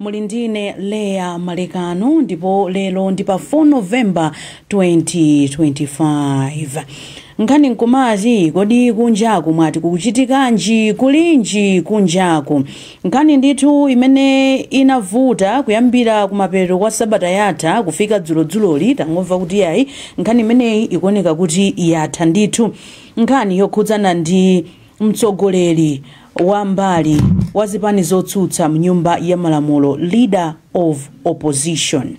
Muli ndine Leah Malekano ndipo lero ndi pa 4 November 2025. Nkhani nkumati kodi kunjaku mwati kukuchitikanji kulinji kunjaku? Nkhani ndithu imene inavuta kuyambira kumapeto kwa sabata yatha kufika dzulodzuloli tangomva kuti yayi nkhani imeneyi ikuoneka kuti yatha ndithu. Nkhani yokhudzana ndi Mtsogoleri wa mbali wa zipani zotsutsa mnyumba ya malamulo, Leader of Opposition.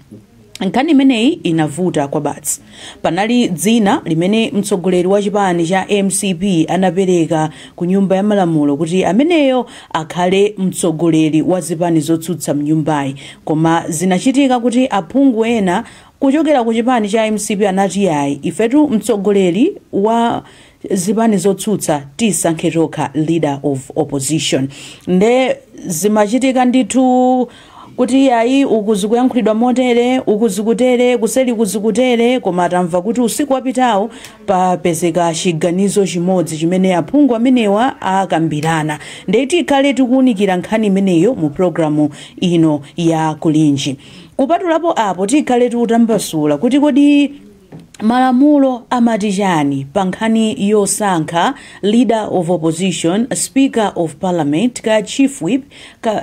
Nkhani imeneyi inavuta kwabasi. Panali dzina limene mtsogoleri wa chipani cha mcp anapereka ku nyumba ya malamulo kuti ameneyo akhale mtsogoleri wa zipani zotsutsa mnyumbayi. Koma zinachitika kuti aphungu ena kuchokera ku chipani cha mcp anati ayi, ifetu mtsogoleri wa. zipani zotsutsa tisankhe tokha leader of opposition nde zimachitika ndithu kuti iyayi uku zikuyankhulidwa motere uku zikutere kuseli uku zikutere koma tamva kuti usiku wapitawo papezeka chiganizo chimodzi chimene aphungu amenewa akambirana nde tikhale tikuwunikira nkhani imeneyo mu programu ino ya kulinji kupatulapo apo tikhale tikutambasula kuti kodi malamulo amati chani pa nkhani yosankha leader of opposition, speaker of parliament, kaya chief whip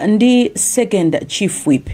ndi second chief whip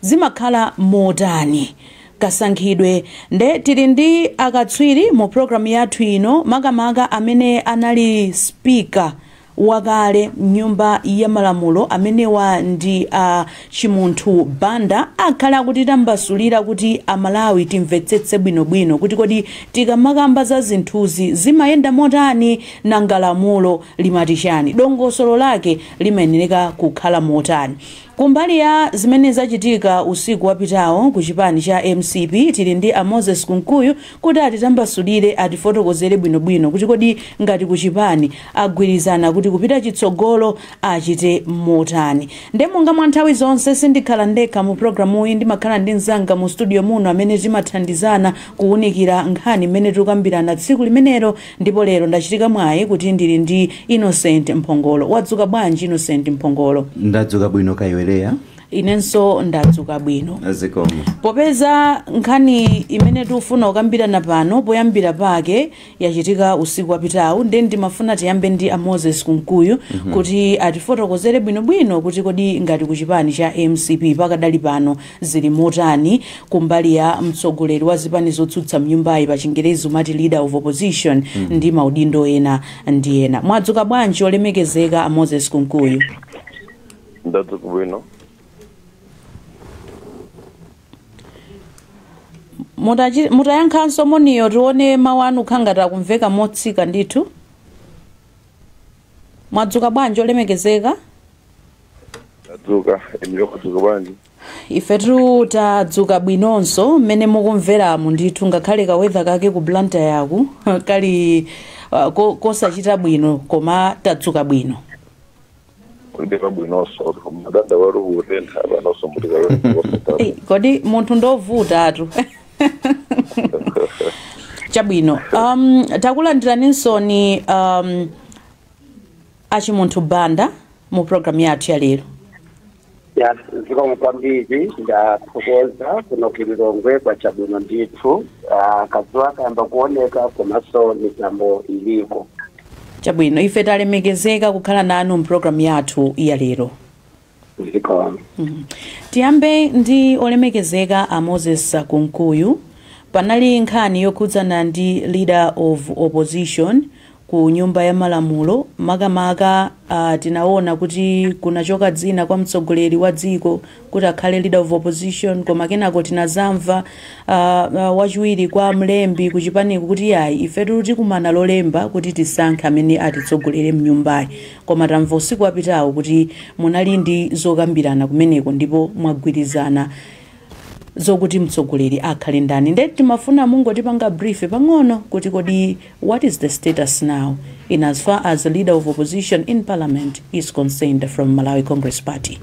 zimakhala motani kasankhidwe nde tili ndi akatswiri mu program yathu ino makamaka amene anali speaker wakale mnyumba ya malamulo amenewa ndi a Chimunthu Banda akhale akutitambasulira kuti a Malawi timvetsetse bwino bwino kuti kodi tikamakamba za zinthuzi zimayenda motani nanga lamulo limati chani dongosolo lake limayenereka kukhala motani. Kumbali ya zimene zachitika usiku wapitawo ku chipani cha mcp tili ndi a Moses Kunkuyu kuti atitambasulire, atifotokozere bwino bwino kuti kodi ngati ku chipani agwirizana kuti kupita chitsogolo achite motani. Nde monga mwa nthawi zonse sindikhala ndekha mu programuyi ndimakhala ndi mzanga mu studio muno amene timathandizana kuwunikira nkhani imene tikukambirana tsiku limenelo Ndipo lero ndachitika mwayi kuti ndili ndi Innocent Mphongolo. Wadzuka bwanji Innocent Mphongolo? Ndadzuka bwino ka iwe Leah? Inenso ndadzuka bwino. Zikomo. Popeza nkhani imene tikufuna kukambirana pano poyambira pake yachitika usiku wapitawu nde ndimafuna tiyambe ndi a Moses Kunkuyu kuti atifotokozere bwinobwino kuti kodi ngati ku chipani cha mcp pakadali pano Zili motani? Kumbali ya mtsogoleri wa zipani zotsutsa mnyumbayi pachingerezi umati leader of opposition ndi maudindo ena ndi ena. Mwadzuka bwanji olemekezeka a Moses Kunkuyu? Ndadzuka bwino. Mutayankhanso moniyo tione mawu anu akhala ngati akumveka motsika ndithu. mwadzuka bwanji olemekezeka tadzuka inuyo mwadzuka bwanji ifetu tadzuka bwinonso mmene mukumveramu ndithu ngakhale kawedha kake ku Blantyre kuno kali uh, ko- kosachita bwino koma tadzuka bwino Ndiye pabwinonso mumadandaula kutentha panonso mutikawaa Ei, kodi munthu ndovutatu chabwino um, takulandiraninso inu um, a Chimunthu Banda mu programu yathu ya lero ya zikomo kwambiri ndathokoza kuno ku Lilongwe kwacha bwino ndithu Ah, kadzuwa kayamba kuoneka komanso mitambo iliko chabwino ife talemekezeka kukhala nanu mu programu yathu ya lero zikomo Mhm. tiyambe ndi olemekezeka a moses kunkuyu panali nkhani yokhudzana ndi leader of opposition ku nyumba ya malamulo makamaka uh, tinaona kuti kunachoka dzina kwa mtsogoleri wa dziko kuti akhale leader of opposition koma kenako tinazamva uh, uh, wachiwiri kwa mlembi kuchipaniku kuti yayi ifetu tikumana lolemba kuti tisankhe amene atitsogolere mnyumbayi Koma tamva usiku wapitawu kuti munali ndi zokambirana kumeneko ndipo mwagwirizana zokuti mtsogoleri akhale ndani nde timafuna mungotipanga brief pang'ono kuti kodi what is the status now in as far as leader of opposition in parliament is concerned from Malawi Congress Party.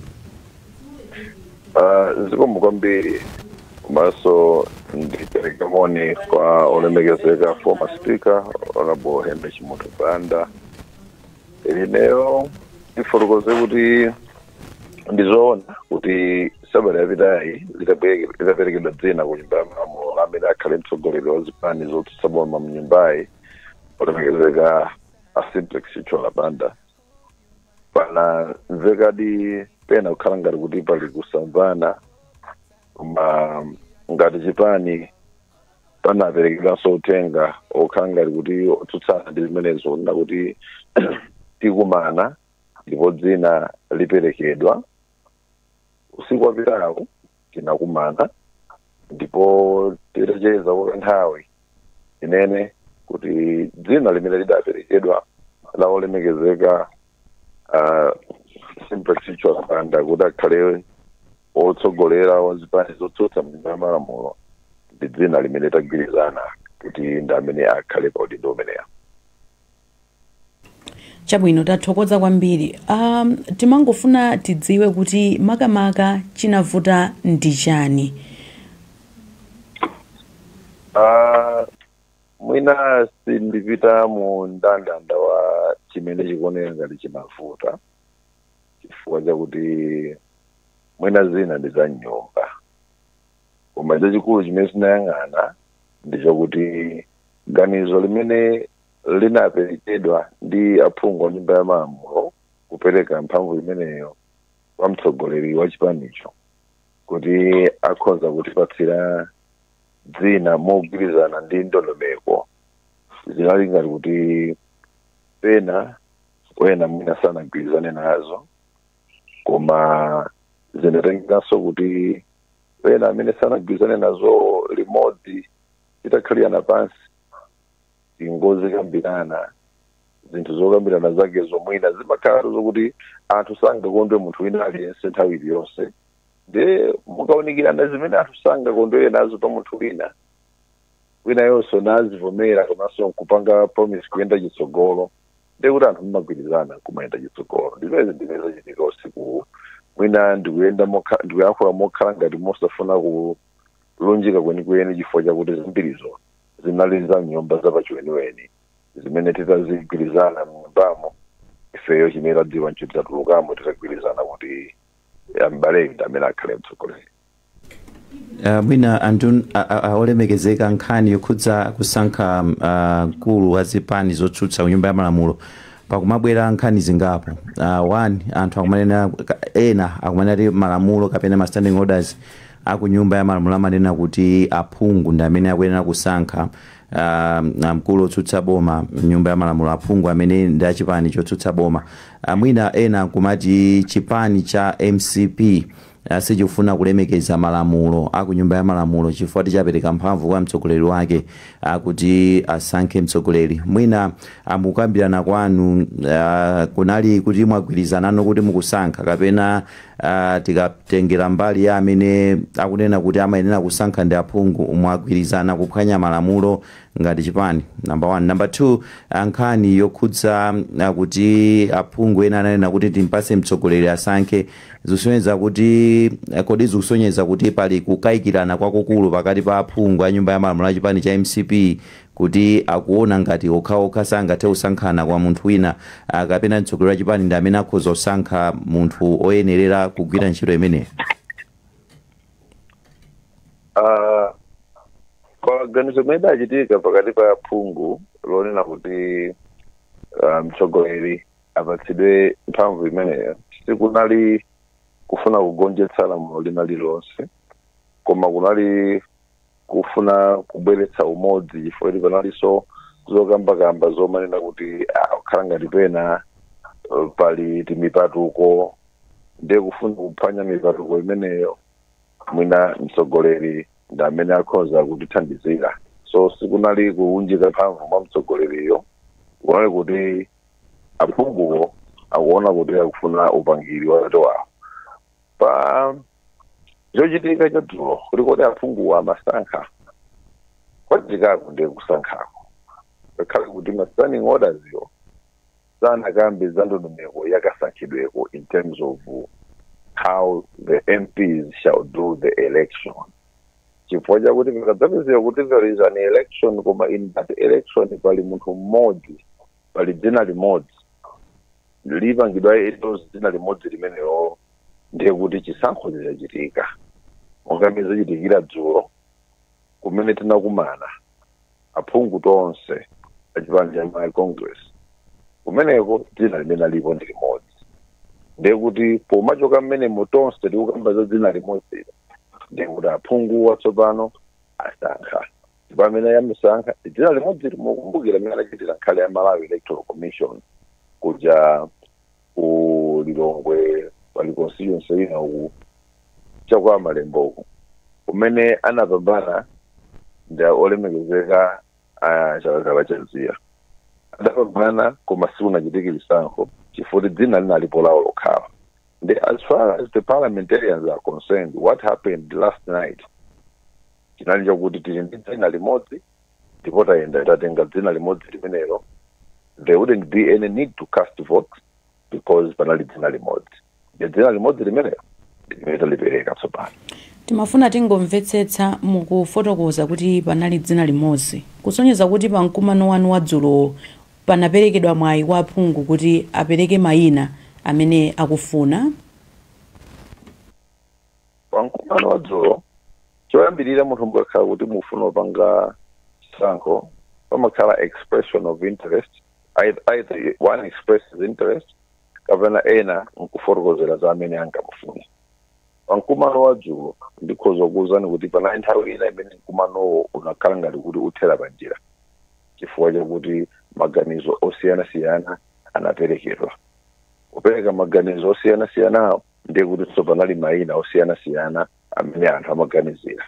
Ah, zikomo kwambiri komanso ndipereke moni kwa olemekezeka former speaker honorable henry Chimunthu banda Ineyo ndifotokoze kuti ndizoona kuti sabata yapitayi litabwereke- litaperekedwa dzina ku nyumba ya malamulo la amene akhale mtsogoleri wa zipani zotsutsa boma mu nyumbayi olemekezeka a simplex Chithyola Banda panamvekadi pena kukhala ngati kuti pali kusamvana koma ngati chipani panaperekedwanso uthenga okhala ngati kuti otsutsana ndi zimenezo kunena kuti tikumana ndipo dzina liperekedwa usiku wapitawo tinakumana ndipo titacheza kwa nthawi ndinene kuti dzina limene lidaperekedwa la olemekezeka ah, Simplex Chithyola Banda kuti akhale otsogolera wa zipani zotsutsa mnyumba ya malamulo ndi dzina limene tagwirizana kuti ndi amene akhale pa udindo umenewu chabwino tathokoza kwambiri um, timangofuna tidziwe kuti makamaka chinavuta ndi chani Ah, mwina sindipita mu ndandanda wa chimene chikuoneka ngati chimavuta chifukwa chakuti mwina zina ndi za mnyumba koma chachikulu chimene tinayang'ana ndi chakuti ganizo limene linaperekedwa ndi aphungu a nyumba ya malamulo kupereka mphamvu imeneyo kwa mtsogoleri wa chipanicho kuti akhoza kutipatsira dzina mogwirizana ndi ndondomeko zinali ngati kuti pena ena mwina sanagwirizane nazo koma zinatengekanso kuti ena amene sanagwirizane nazo limodzi titakhalirana pansi nkuzikambirana zinthu zokambirana zake zo mwina zimakhala zokuti anthu sangakondwe munthu wina aliyense nthawi iliyonse nde mukaunikirana zimene anthu sangakondwere nazo pa munthu wina winayonso nazivomera komanso nkupanga promise kuyenda chitsogolo ndekuti anthu mumagwirizana kumayenda chitsogolo ndimene ndimene zachitika usiku mwina ndikuyenda mokha- ndikuyankhula mokhala ngati mosafuna ku lunjika kwenikweni chifukwa chakuti zambirizo zinali za mnyumba zapachiweniweni zimene tidazigwirizana mnyumbamo ifeyo chimene tadziwa nchoti tatulukamo titagwirizana kuti a mbalewa ndi amene akhale mtsogoleri Uh, mwina anthu a- a- a- olemekezeka nkhani yokhudza kusankha um, ah, mkulu wa zipani zotsutsa ku nyumba ya malamulo pakumabwera nkhani zingapo uh, one anthu akumanena ka- ena akumanena kuti malamulo kapena ma standing orders a ku Nyumba ya Malamulo amanena kuti aphungu ndi amene akuyenera kusankha uh, mkulu otsutsa boma m'Nyumba ya Malamulo, aphungu amene ndi a chipani chotsutsa boma. Uh, mwina ena nkumati chipani cha mcp uh, sichikufuna kulemekeza malamulo a ku Nyumba ya Malamulo chifukwa choti chapereka mphamvu kwa mtsogoleri wake uh, kuti asankhe mtsogoleri. Mwina uh, mkukambirana kwanu uh, kunali kuti mwagwirizanano kuti mukusankha kapena Aaa tikatengera mbali ya amene akunena kuti amayenera kusankha ndi aphungu mwagwirizana kuphwanya malamulo ngati chipani number one number two ah, nkhani yokhudza ah, kuti aphungu ena ananena kuti timpatse mtsogoleri asankhe zikusonyeza kuti eh, kodi zikusonyeza kuti pali kukayikirana kwakukulu pakati pa aphungu a nyumba ya malamulo a chipani cha mcp kuti akuona ngati okhaokha sangathe kusankhana koma munthu wina kapena mtsogoleri wa chipani ndi amene akhoza kusankha munthu oyenerera kugwira ntchito imeneyo? Ah, kwa ganizo limene lidachitika pakati pa aphungu lonena kuti ah, mtsogoleri apatsidwe mphamvu imeneyo sikunali kufuna kugonjetsa lamulo lina lililonse koma kunali kufuna kubweretsa umodzi chifukwa kuti panalinso zokambakamba zomanena kuti ah, kukhala ngati pena eh, pali timipatuko ndiye kufuna kuphwanya mipatuko imeneyo mwina mtsogoleri ndi amene akhoza kutithandizira so sikunali kuunjika mphamvu mwa mtsogoleri ayi kunali kuti aphunguwo akuona kuti akufuna upangiri wa atate wawo pa chochitika cha dzulo kuti kodi aphunguwa amasankha kwachitikako ndiye kusankhako ngakhale kuti ma standing orders yo sanakambe za ndondomeko yakasankhidweko in terms of how the mps shall do the election chifukwa chakuti pakadzapezeka kuti there is an election koma in that election pali munthu mmodzi pali dzina limodzi lipangidwa endorse dzina limodzi limenelo ndiye kuti chisankho chachitika monga mmene zachitikira dzulo kumene tinakumana aphungu tonse achipani cha malawi congress kumeneko dzina limene alipo ndi limodzi ndiye kuti pomachoka mmenemo tonse tikukamba za dzina limodzi ndiye kuti aphunguwa tsopano asankha ndipo amene amusankha ndi dzina limodzi mukumbukira mmene anachitira nkhani ya malawi electoral commission kuja ku lilongwe pali constituency ina uku chakwa malembo uku kumene anapambana ndi olemekezeka a chakakala chaziya adapambana koma sikunachitike chisankho chifukwa dzina linalipo lawo lokha and as far as the parliamentarians are concerned what happened last night chinali chakuti tili ndi dzina limodzi ndipo tayenda tatenga dzina limodzi limenelo there wouldn't be any need to cast votes because panali dzina limodzi ndi dzina limodzi limenelo limene talipereka tsopano timafuna tingomvetsetsa mukufotokoza kuti panali dzina limodzi kusonyeza kuti pa mkumano wanu wadzulowo panaperekedwa mwayi kwa aphungu kuti apereke mayina amene akufuna pa mkumano wa dzulo choyambirira munthu mukakhala kuti mukufuna kupanga chisankho pamakhala expression of interest Either- either one expresses interest kapena ena nkufotokozera za amene angamufune pa mkumano wa dzulo ndikhoza kukuwuzani kuti panali nthawi ina imene mkumanowo unakhala ngati kuti uthera pa njira chifukwa chakuti maganizo osiyanasiyana anaperekedwa kupereka maganizo osiyanasiyana ndiye kutinso panali mayina osiyanasiyana amene anthu amaganizira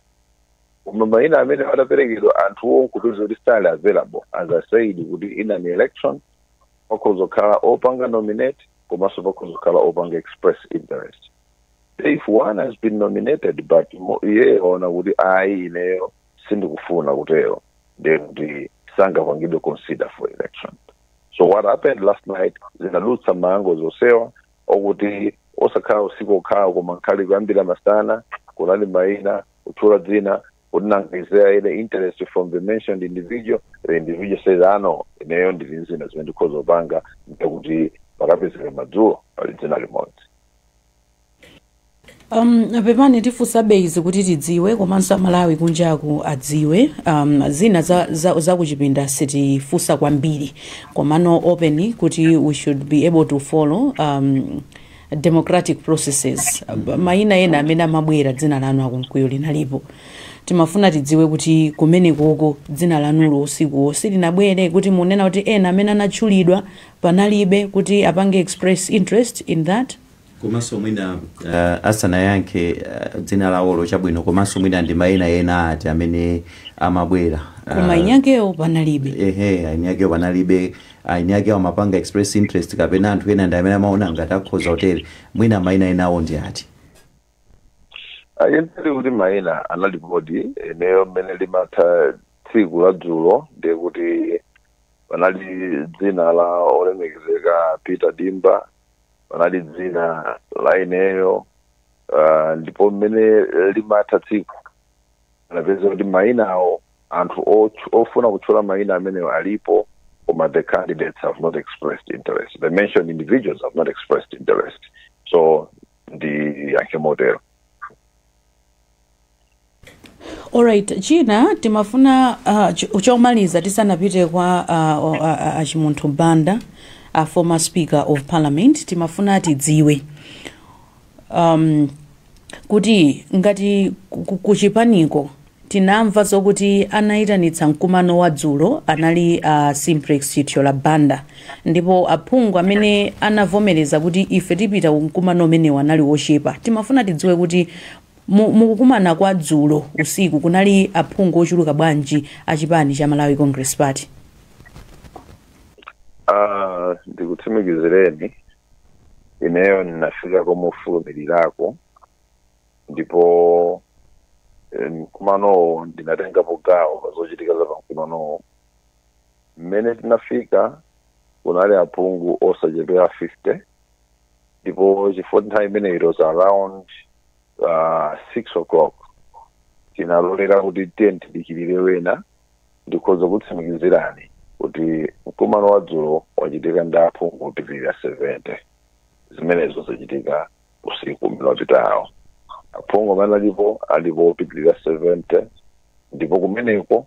koma mayina amene adaperekedwa anthuwo nkupeza kuti sali available as i said kuti in an election pakhoza kukhala opanga nominate komanso pakhoza kukhala opanga express interest if one has been nominated but iye waona kuti ayi ineyo sindikufuna kutero ndiye kuti sangapangidwe consider for election so what happened last night zinadutsa mmagulu osiyana okuti osakhala usiku okhawo koma ngakhale kuyambira masana kunali mayina kutchula dzina kuti nanga is there any interest from the mentioned individual the individual says no ineyo ndili ndi zina zimene ndikhoza kupanga ndiye kuti pakapezeka madzulo pali dzina limodzi Um, pepani tifunsabe izi kuti tidziwe komanso amalawi kunjaku adziwe um, zina za, za, za kuchipinda sitifunsa kwambiri komano open kuti we should be able to follow um, democratic processes Um, mayina ena amene amabwera dzina lanu a Kunkuyu linalipo timafuna tidziwe kuti kumenekoko dzina lanulo usikuwo silinabwere kuti mukunena kuti ena amene anatchulidwa panalibe kuti apange express interest in that komanso mwina uh, asanayankhe uh, dzina lawolo chabwino komanso mwina ndi mayina ena ati amene amabwera uh, koma eni akewo panalibe ehe eni ake panalibe eni akewo amapanga express interest kapena anthu ena ndi amene amaona ngati akhoza kutero mwina mayina enawo ndi ati ayi ndinene kuti mayina analipodi ineyo mmene limatha tsiku la dzulo ndiye kuti panali dzina la olemekezeka peter dimba panali dzina la ineyo uh, ndipo mmene limatha tsiku anapeza kuti mayinawo anthu otch- ofuna kutchula mayina amenewo alipo koma the candidates have not expressed interest the mentioned individuals have not expressed interest so ndiyankhe motero Alright, china timafuna ah, ch- chomaliza tisanapite kwa ah, o- a- a- achimunthu banda a former speaker of parliament timafuna tidziwe um, kuti ngati ku- ku- kuchipaniko tinamva zokuti anayitanitsa mkumano wa dzulo anali a uh, simplex chithyola banda ndipo aphungu amene anavomereza kuti ife tipita ku mkumano umenewu anali ochepa timafuna tidziwe kuti Mu mu kukumana kwa dzulo usiku kunali aphungu ochuluka bwanji a chipani cha Malawi Congress Party? Ah, ndikutsimikizireni ineyo ndinafika komufulumirirako ndipo eh, mkumanowo ndinatengapo gawo pa zochitika za pamkumanowo mmene tinafika kunali aphungu osachepera 50 ndipo chifukwa nthawi imeneyo it was around uh, six o'clock tinalolera kuti tiyeni tidikirire ena ndikhoza kutsimikizirani kuti mkumano wa dzulo wachitika ndi aphungu opitirira 70 zimenezo zachitika usiku umene wapitawu aphungu amene alipo alipo opitirira 70 ndipo kumeneko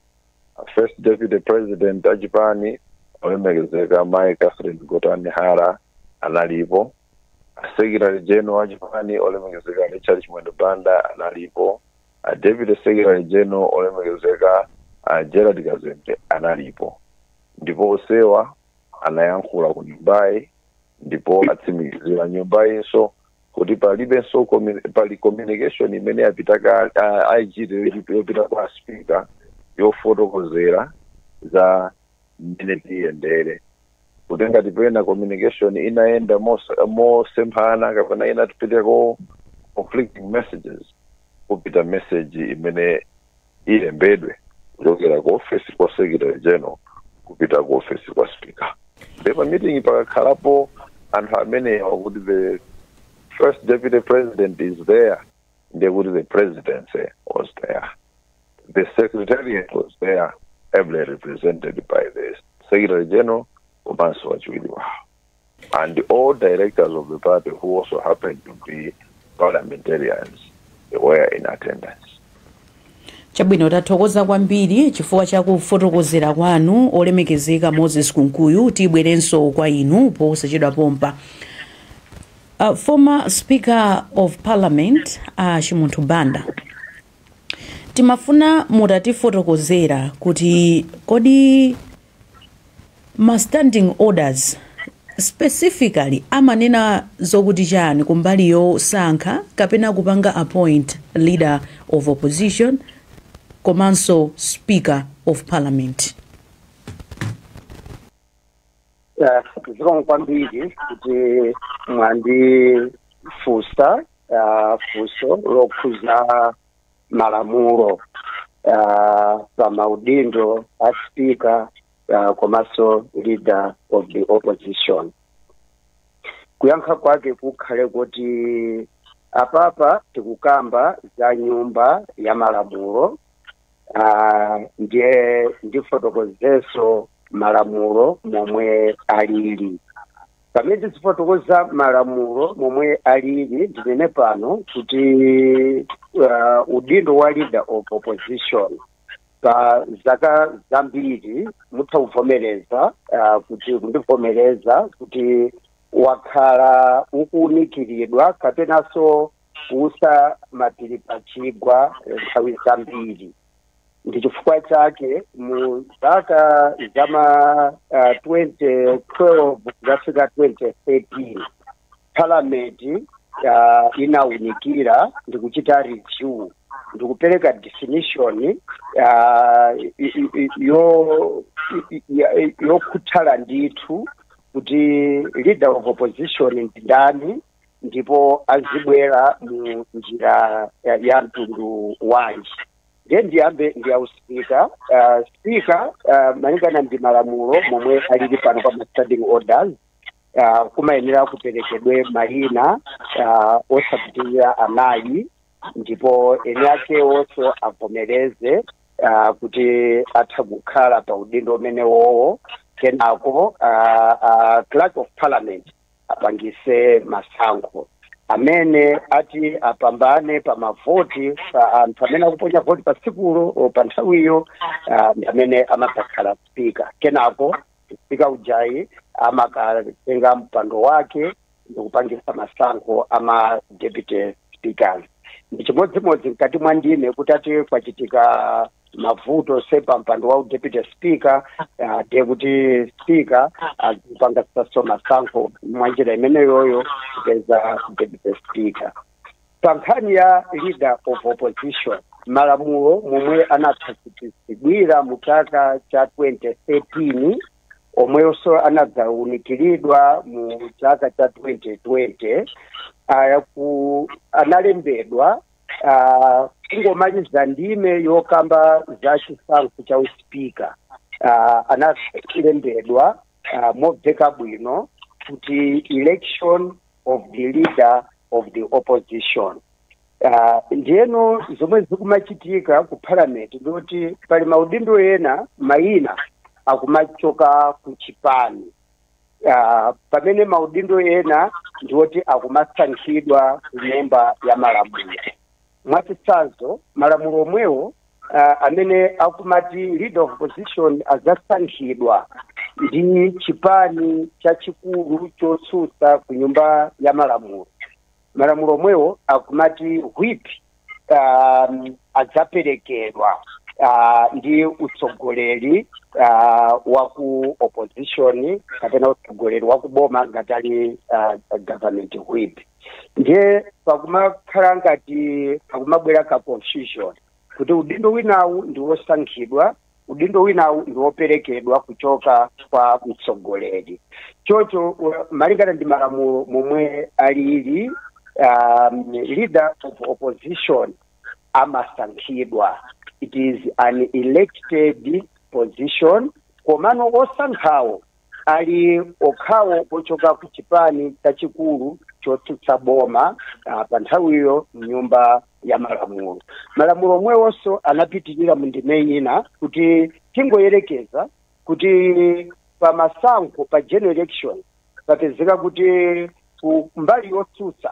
a first deputy president achipani olemekezeka mai catherine gotani hara analipo a secretary general achipani olemekezeka richard chimwendo banda analipo a deputy secretary general olemekezeka a gerald kazembe analipo ndipo onsewa anayankhula ku nyumbayi ndipo atsimikizira nyumbayinso kuti palibenso communi- pali communication imene yapita kale ah, IG yopita- yopita kwa speaker yofotokozera za mmene tiyendere kuti ngati pena communication inayenda mos- mosemphana kapena inapitako conflicting messages kupita message imene ilembedwe kuchokera ku ofesi kwa secretary general kupita ku ofesi kwa speaker nde pa meeting pakakhalapo anthu amenewa kuti the first deputy president is there nde kuti the presidency was there the secretariat was there ably represented by the secretary general komanso wachiwiri wawo And all directors of the party who also happened to be parliamentarians they were in attendance. chabwino tathokoza kwambiri chifukwa cha kufotokozera kwanu olemekezeka moses kunkuyu tibwerenso kwa inu posachedwa pompa uh, former speaker of parliament uh, chimunthu banda timafuna mutatifotokozera kuti kodi ma standing orders specifically amanena zokuti chani kumbali yosankha kapena kupanga appoint leader of opposition komanso speaker of parliament? Eh, zikomo kwambiri kuti mwandifunsa ah, funso lokhuza malamulo ah, pa maudindo a speaker ah, komanso leader of the opposition kuyankha kwake kukhale kuti apapa tikukamba za nyumba ya malamulo ah, ndiye ndifotokozeso malamulo momwe alili pamene tizifotokoza malamulo momwe alili ndinene pano kuti uh, udindo wa leader of opposition pa zaka zambiri mutha kuvomereza uh, kuti kundivomereza kuti wakhala ukuunikiridwa kapenanso kuutsa mapiri pachigwa nthawi zambiri ndi chifukwa chake mu zaka za ma uh, 2012 kuzafika 2013 parliament uh, inaunikira ndi kuchita review ndi kupereka definition uh, i- i- i- yo- i- i- yokhuthala ndithu kuti leader of opposition ndi ndani ndipo azibwera mu njira ya, ya mtundu wanji ndiye ndiyambe ndi wa usipika uh, spika uh, malingana ndi malamulo momwe alili pano pa ma standing orders uh, kumayenera kuperekedwe mayina uh, osapitirira anayi ndipo eni akewonso avomereze uh, kuti atha kukhala pa udindo umenewowo kenako uh, uh, clerk of parliament apangise masankho amene ati apambane pa mavoti anthu amene akuponya voti pa tsikulo o pa nthawiyo ah, ndi amene amadzakhala spika kenako spika ujayi amakatenga mpando wake ndikupangisa masankho ama deputy speakers ndi chimodzimodzi mkati mwa ndime kuti ati kwachitika mavuto se pa mpando wa deputy speaker uh, de kuti speaker apangitsanso masankho mwa njira imeneyoyo kupeza deputy speaker pa nkhani ya leader of opposition malamulo momwe anakhazikitsidwira mu chaka cha 2013 omwenso anadzaunikiridwa mu chaka cha 2020 analembedwa uh, kungomaliza ndime yokamba za chisankho cha uspika uh, analembedwa uh, mobveka bwino kuti election of the leader of the opposition uh, ndiyeno zomwe zikumachitika ku parliament ndikuti pali maudindo ena mayina akumachoka ku chipani uh, pamene maudindo ena ndi oti akumasankhidwa ku nyumba ya malamulo mwachitsanzo malamulo omwewo uh, amene akumati leader of opposition adzasankhidwa ndi chipani chachikulu chotsutsa ku nyumba ya malamulo malamulo omwewo akumati whip um, adzaperekedwa uh, ndi utsogoleri uh, wa ku opposition kapena utsogoleri wa kuboma ngati ali uh, government whip ndiye pakumakhala ngati pakumabwera ka confusion kuti udindo winawu ndi wosankhidwa udindo winawu ndi woperekedwa kuchoka kwa mtsogoleri chocho u- malingana ndi malamulo momwe alili um, leader of opposition amasankhidwa it is an elected position komano osankhawo ali okhawo ochoka ku chipani chachikulu chotsutsa boma ah, pa nthawiyo mnyumba ya malamulo malamulo omwewonso anapitirira mu ndime ina kuti tingoyerekeza kuti pa masankho pa general election papezeka kuti ku mbali yotsutsa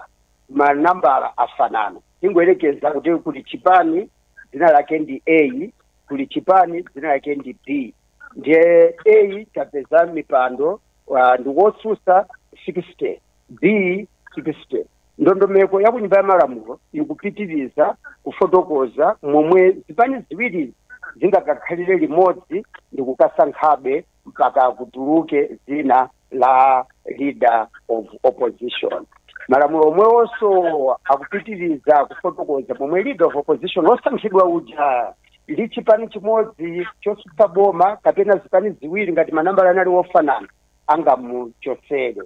manambala afanana tingoyerekeza kuti kuli chipani dzina lake ndi a kuli chipani dzina lake ndi b ndiye a atapeza mipando ah, ndi wotsutsa 60 b 60 ndondomeko ya kunyumba ya malamulo ikupitiriza kufotokoza momwe zipani ziwiri zingakakhalire limodzi ndi kukasankhabe mpaka kutuluke dzina la leader of opposition malamulo omwewonso akupitiriza kufotokoza momwe leader of opposition osankhidwa uja ndi chipani chimodzi chotsutsa boma kapena zipani ziwiri ngati manambala anali wofanana angamuchotsere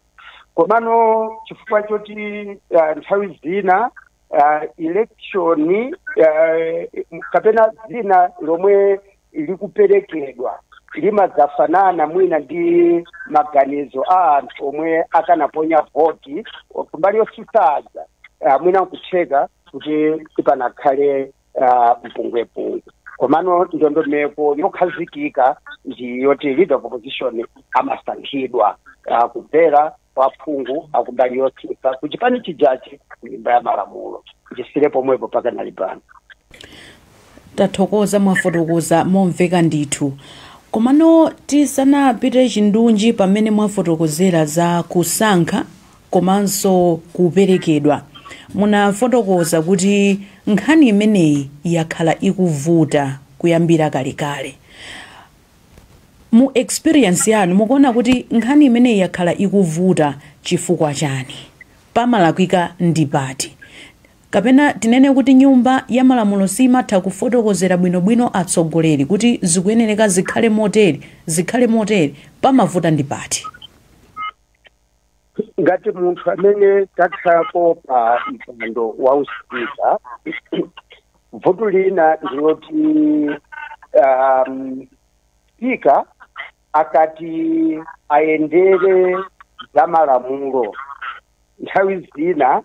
komano chifukwa choti uh, nthawi zina uh, election uh, kapena dzina lomwe likuperekedwa limadzafanana mwina ndi maganizo a anthu omwe akanaponya voti kumbali yotsutsaza uh, mwina nkutheka kuti sipanakhale ah, mpungwepungwe komano ndondomeko yokhazikika ndi yoti leader of opposition amasankhidwa ah, kudzera kwa phungu akumbali yotsutsa ku chipani chijachi ku nyumba ya malamulo ndisiire pomwepo pakanali pano tathokoza mwafotokoza momveka ndithu komano tisanapite chindunji pamene mwafotokozera za kusankha komanso kuperekedwa. Munafotokoza kuti nkhani imeneyi yakhala ikuvuta kuyambira kalekale. Mu experience yanu mukuona kuti nkhani imeneyi yakhala ikuvuta chifukwa chani? Pamalakwika ndi pati? Kapena tinene kuti nyumba ya malamulo siimatha kufotokozera bwinobwino atsogoleri kuti zikuyenereka zikhale motere, zikhale motere, pamavuta ndi pati? ngati munthu amene takhalapo pa mpando wa uspika vuto lina ndiloti um, spika akati ayendere za malamulo nthawi zina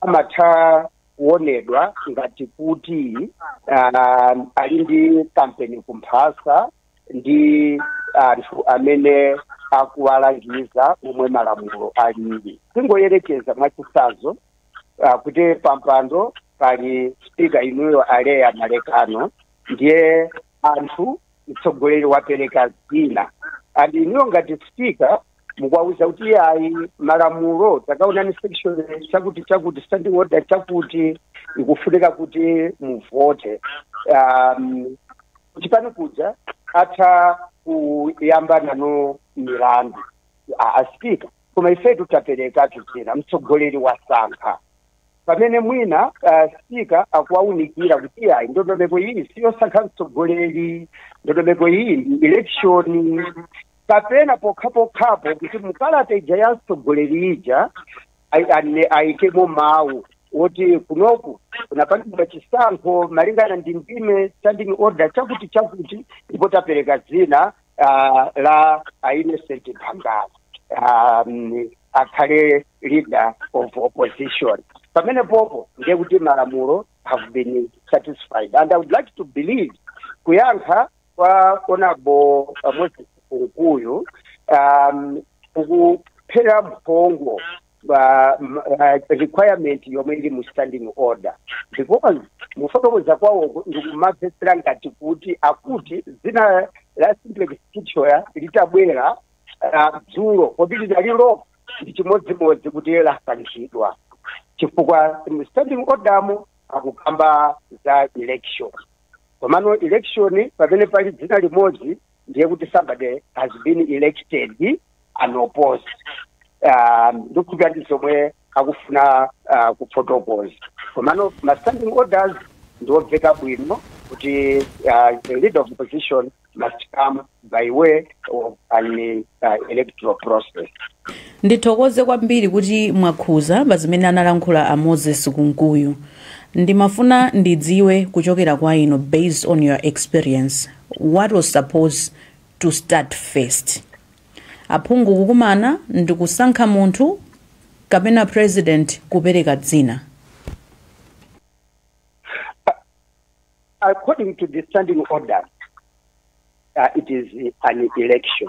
amatha kuonedwa ngati kuti um, ali ndi kampeni kumphasa ndi anthu amene akuwalangiza momwe malamulo alili tingoyerekeza mwachitsanzo uh, kuti pampando pali spika inuyo aleya malekano ndiye anthu mtsogoleri wapereka dzina and inuyo ngati spika mukuwauza kuti iyayi malamulo takaonani section chakuti chakuti standing order chakuti ikufunika kuti muvote um, chipani kuja atha kuyambana nanu milandu aspika koma ifetu taperekatu dzina mtsogoleri wasankha pamene mwina ah, spika akuwaunikira kuti iyayi ndondomeko iyi siyosankha mtsogoleri ndondomeko iyi ndi election kapena pokhapokhapo kuti mukalata ija ya mtsogoleri ija ai- ane- ayikemo mawu woti kunoku kunapangidwa chisankho malingana ndi ndime standing order chakuti chakuti ndipo tapereka dzina ah, la a innocent bangala um, akhale leader of opposition pamenepopo ndiye kuti malamulo have been satisfied and i would like to believe kuyankha kwa honourable uh, moses kunkuyu um, kukupherera mphongo pa ma- ah, requirement yomwe ili mu standing order because mufotokoza kwawo ndikumamvetsera ngati kuti akuti dzina la simplex Chithyola litabwera ah, dzulo kodi linalipo ndi chimodzimodzi kuti lasankhidwa chifukwa mu standing order mu akukamba za election komano election pamene pali dzina limodzi ndiye kuti somebody has been elected unopposed um, ndikukhulupira ndi zomwe akufuna uh, kufotokoza komano ma standing orders ndiwomveka bwino kuti uh, the leader of opposition must come by way of an uh, electoral process ndithokoze kwambiri kuti mwakhuza pa zimene analankhula a moses kunkuyu ndimafuna ndidziwe kuchokera kwa inu based on your experience What was supposed to start first? Aphungu kukumana ndikusankha munthu kapena president kupereka dzina? According to the standing order, uh, it is an election.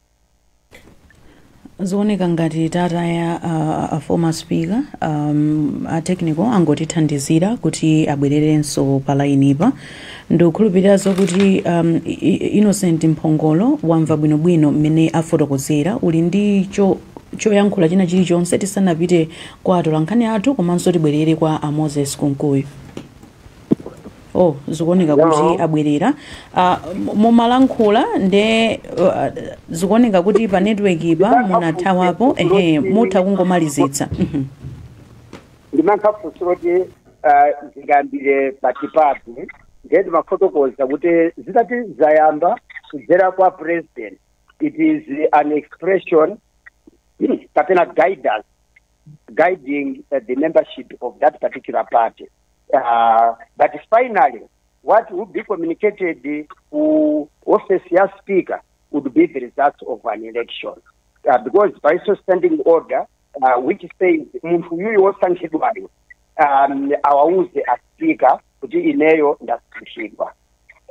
Zooneka ngati tataya a, a former speaker um, a technical angotithandizira kuti abwererenso pa lainipa ndikukhulupiriranso kuti um, I- I- innocent mphongolo wamva bwinobwino mmene afotokozera uli ndi choyankhula china chilichonse tisanapite kwa atolankhani athu komanso tibwerere kwa a moses kunkuyu oh zikuoneka kuti Hello. abwerera Ah, mu- mumalankhula nde ah, zikuoneka kuti pa network-pa munathawapo ehe mutha kungomalizitsa Mhm. ndimayankha funso loti ah, zingayambire patipo pati ndiye ndimafotokoza kuti zitati zayamba kudzera kwa president it is an expression kapena guidance guiding uh, the membership of that particular party Uh, but finally, what would be communicated to office as speaker would be the results of an election. Uh, because by so standing order, uh, which says munthu yuyu wosankhidwayo um, awauze a speaker kuti ineyo ndasankhidwa.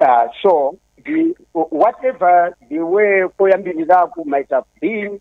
Uh, so the, whatever the way koyambirizaku might have been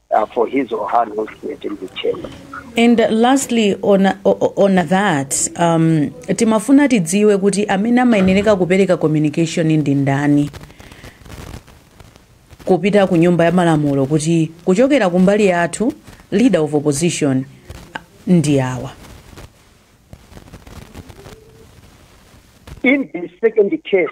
uh, for his or her announcement in the chamber. and lastly on, o- o- on that um, timafuna tidziwe kuti amene amayenereka kupereka communication ndi ndani kupita ku nyumba ya malamulo kuti kuchokera kumbali yathu leader of opposition ndi awa In the second case,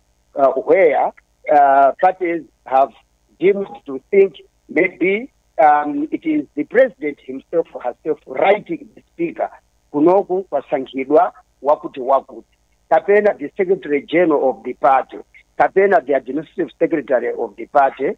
uh, where uh, parties have deemed to think maybe um, it is the president himself or herself writing the speaker kunoku kwasankhidwa wakuti wakuti kapena the secretary general of the party kapena the administrative secretary of the party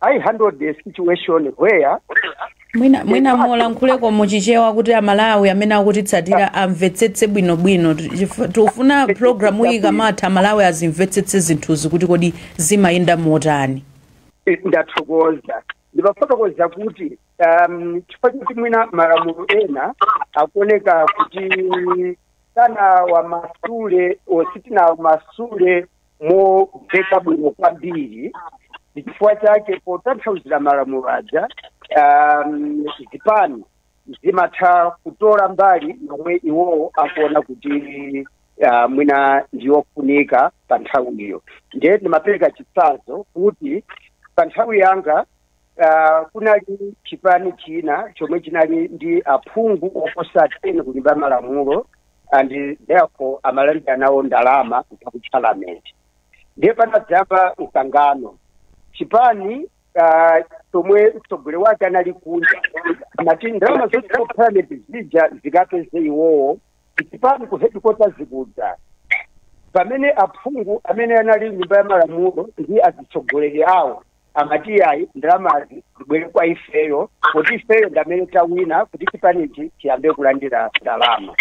I handled the situation where mwina mwina mulankhuleko muchichewa kuti amalawi amene akutitsatira amvetsetse bwinobwino Chif- tikufuna programu iyi ikamatha amalawi azimvetsetse zinthuzi kuti kodi zimayenda motani ndathokoza ndimafotokoza kuti um, chifukwa choti mwina malamulo ena akuoneka kuti sanawamasule or sitinawamasule momveka bwino kwambiri ndi chifukwa chake potanthauzira malamulo aja um, zipani zimatha kutola mbali yomwe iwowo akuona kuti uh, mwina ndiyofunika pa nthawiyo ndiye ndimapereka chitsanzo kuti pa nthawi yanga Ah, kunali chipani china chomwe chinali ndi aphungu oposa 10 ku nyumba ya malamulo and therefore amalandira nawo ndalama kutoka ku parliament ndiye panadzayamba mkangano chipani ah, chomwe mtsogoleri wake anali kunja amati ndalama zonse ku parliament zija zikapeze iwowo chipani ku headquarter zikudza pamene aphungu amene anali nyumba ya malamulo ndi azitsogoleri awo amati iyayi ndalamazi zibwere kwa ifeyo kuti ifeyo ndamene tawina kuti chipanichi chiyambe kulandira ndalama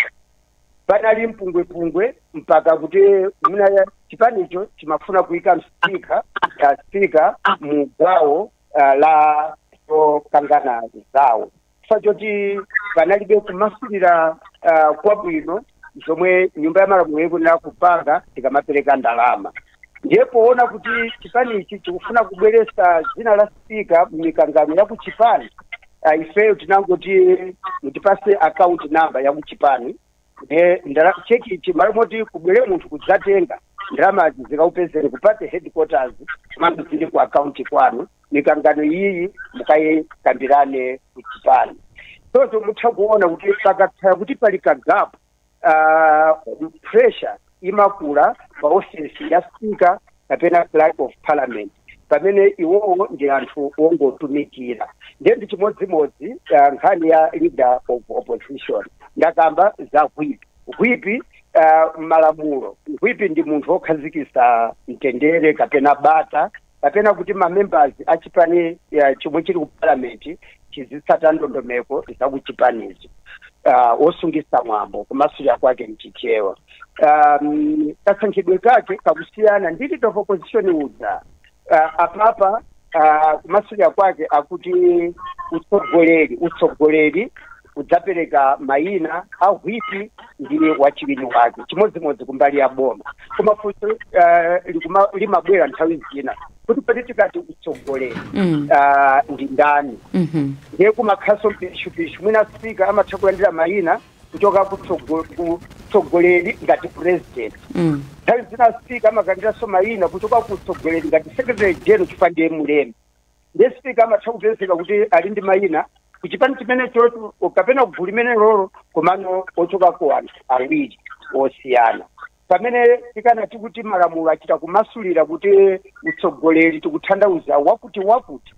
panali mpungwepungwe mpaka kuti mwina chipanicho chimafuna kuyika dzina la spika mu gawo uh, la zokangana zawo chifukwa choti panalibe kumasulira ah, kwabwino zomwe nyumba ya malamulo ikuyenera kupanga tikamapereka ndalama ndiye poona kuti chipani ichi chikufuna kubweresa dzina la spika mumikangano ya kuchipani ah, ifeyo tinangoti mutipase account number ya kuchipani ndiye ndala cheki ichi malo moti kubwere munthu kudzatenga ndalamazi zikakupezeni ku party headquarters komanso zili ku akaunti kwanu mikangano iyiyi mukayikambirane kuchipani choncho mutha kuona kuti pakakhala kuti pali kagapu uh, pressure imakula pa ofesi ya spika kapena clerk of parliament pamene iwowo ndi anthu wongotumikira ndiye ndi chimodzimodzi uh, nkhani ya leader of opposition ndakamba za hwipi hwipi uh, mmalamulo hwipi ndi munthu wokhazikisa mtendere kapena bata kapena kuti mamembers achipani uh, chomwe chili ku parliament azitsata ndondomeko za kuchipanizo uh, wosungitsa mwambo kumasulira kwake mchichewa um, kasankhidwe kake kakusiyanako ndi leader of opposition uja uh, apapa uh, kumasulira kwake akuti utsogoleri utsogoleri udzapereka mayina a hwipi ndi wachiwiri wake chimodzimodzi kumbali ya boma koma funso uh, likuma- limabwera nthawi zina kuti poti tikati utsogoleri Mm. ah, ndi ndani Mhm. ndiye kumakhalanso mpishupishu mwina spika amatha kulandira mayina kuchoka ku tsogo- ku tsogoleri ngati president Mm. nthawi zina spika amalandiranso mayina kuchoka ku tsogoleri ngati secretary general chifukwa ndiye mulembi ndiye spika amatha kupezeka kuti ali ndi mayina ku chipani chimenecho kapena kugulu limenelolo komano ochoka ku anthu awiri osiyana pamene tikanati kuti malamulo achita kumasulira kuti utsogoleri tikuthandauza wakuti wakuti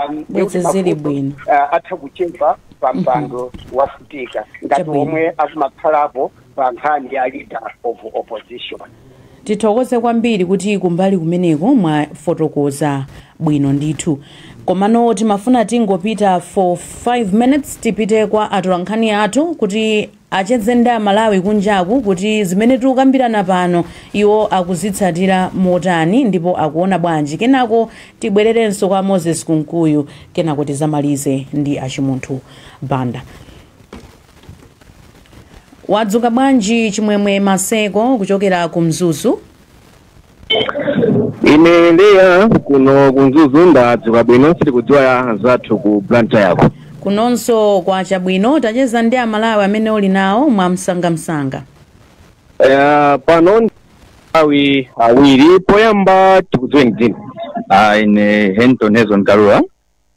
um, ndi Bwezi kuti zili mavuto, bwino. uh, atha kuchepa pa mpando wafutika ngati Chabwino. omwe akumakhalapo pa nkhani ya leader of opposition tithokoze kwambiri kuti kumbali kumeneko mwafotokoza bwino ndithu komano timafuna tingopita for 5 minutes tipite kwa atolankhani athu kuti acheze ndi aMalawi kunjaku kuti zimene tikukambirana pano iwo akuzitsatira motani ndipo akuona bwanji kenako tibwererenso kwa Moses Kunkuyu kenako tizamalize ndi a Chimunthu Banda. Wadzuka bwanji Chimwemwe Maseko kuchokera ku Mzuzu? ine Leya kuno ku Mzuzu ndadzuka bwino sitikudziwa anzathu ku Blantyreko kunonso kwacha bwino tacheza ndi amalawi amene uli nawo mwa msangamsanga Eh, pano ndi awi awiri poyamba tikudziweni dzina Ah, ine Henton Hezon Kalua.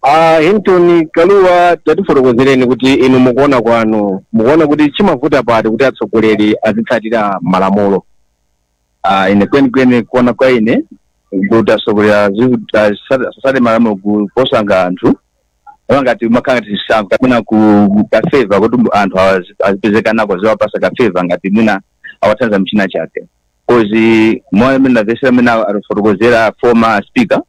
Ah, Henton Kalua tatifotokozereni kuti inu mukuona kwanu mukuona kuti chimavuta pati kuti atsogoleri azitsatira malamulo Ah, ine kwenikweni kuona kwa ine kuti asogoleri asasate malamulo kuposa nga anthu apa ngati makhala ngati chisankho kapena ku ka favour kuti mu- anthu awazi- azipezeka nako aziwapasa ka favour ngati mwina awathandiza m'china chake kozi moyo mmene namvesera mmene atifotokozera former speaker